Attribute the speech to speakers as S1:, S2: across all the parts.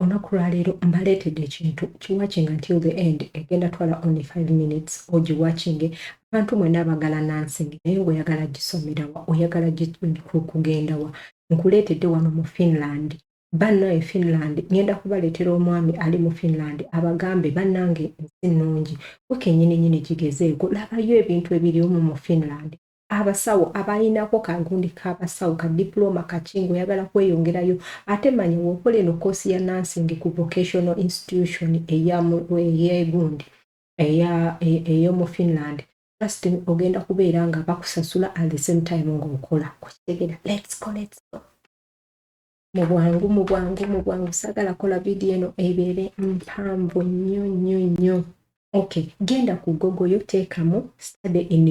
S1: olunaku lwaleero mbaleetedde ekintu kiwakinga until the end egenda twala only 5 minutes ogiwakinge abantu mwena abagala nansing naye ngaoyagala gisomerawa oyagala kugendawa nkuleetedde wano mu finland banna e finland ngenda kubaleetera omwami ali mu finland abagambe bannange ensi nnungi wekenyininyini gigezeeko labayo ebintu ebiriumu mu finland abasawo abalinako kagundi kabasawo ka diploma kaki ngaoyagala kweyongerayo ate manya wokola eno koosi ya nursing ku vocational institution eyagundi eyomu finland just ogenda kubeera nga bakusasula at the same time ngaokola kukitegera let's go, let's go. mu bwangu mu bwangu mu bwangu saagala kola vidiyo eno ebeere mpanvu nnyo nnyo nnyo ok genda ku gogo yo teekamu study in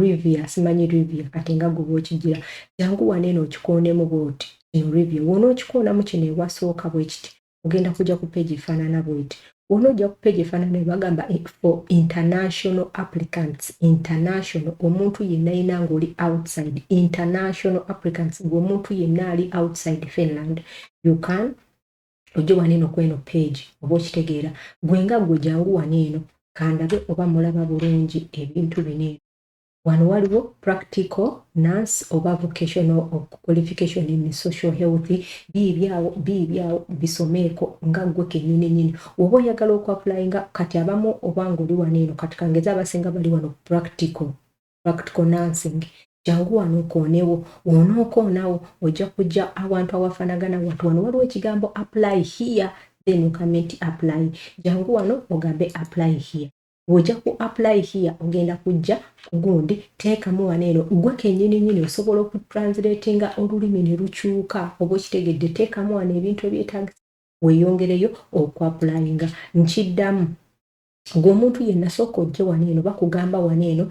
S1: rivia simanyi rivia kati nga goba okigira jangu waneeno okikoonemu bwoti in rivia wona okikoonamu kino ewasooka bwekiti ogenda kujja ku page efaanana bweti wona ojja ku page efaanana bagamba eh, for international applicants international omuntu yenna yina ngaoli outside international applicants ngaomuntu yenna ali outside finland you can ojje wano eno kweno page oba okitegeera gwe nga gwe jangu wano eno kandabe oba mulaba bulungi ebintu bino eno wano waliwo practical nurse oba vocational qualification in social health biibyawo biibyawo bisomeeko nga gwe kenyini nyini oba oyagala okuapulayinga kati abamu obanga oli wano eno kati kangeza abasinga bali wano practical practical nursing jangu wano okoonewo wonookoonawo ojja kujja awantu awafanagana watu wano waliwo ekigambo apply here then ogambe nti apply jangu wano ogambe apply here bw'ojja ku apply here ogenda kujja kugundi teekamu wano eno gwe kennyini nyini osobola okutranslatinga olulimi ne lukyuka oba okitegedde teekamu wano ebintu ebyetagisa weeyongereyo okuapulayinga nkiddamu gwe omuntu yenna sooka ojje wano eno bakugamba wano eno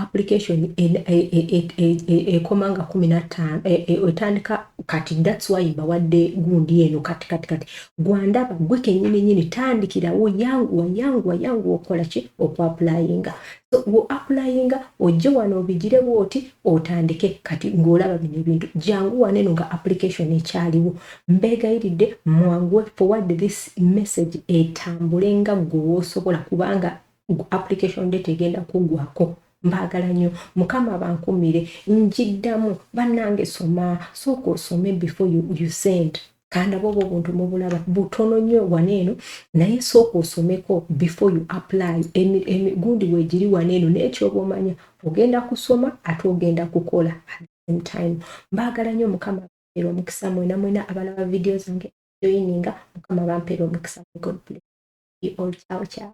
S1: application e, e, e, ekoma nga kumi nattaano etandika kati thats why mbawadde gundi eno kati kati kati gwandaba gwe kenyini nyini tandikirawo yanguwa yanguwa yanguwa okola ki okuapulayinga so woapulayinga ojje wano obigire bwoti otandike kati ngaolaba bino ebintu jangu waneno nga application ekyaliwo mbegayiridde mwanguwe forward this message etambule nga gwe wosobola kubanga application date egenda kugwako mbaagala nnyo mukama bankumire njiddamu bannange soma sooka osome before you, you send kandaba oba obuntu mubulaba butono nnyo wano eno naye sooka osomeko before you apply emigundi wegiri wano eno nekyoba omanya ogenda kusoma ate ogenda kukola at the same time mbaagala nnyo mukama era omukisa mwena mwena abalaba vidiyo zange joininga mukama bampeera omukisa god bless you all ciao ciao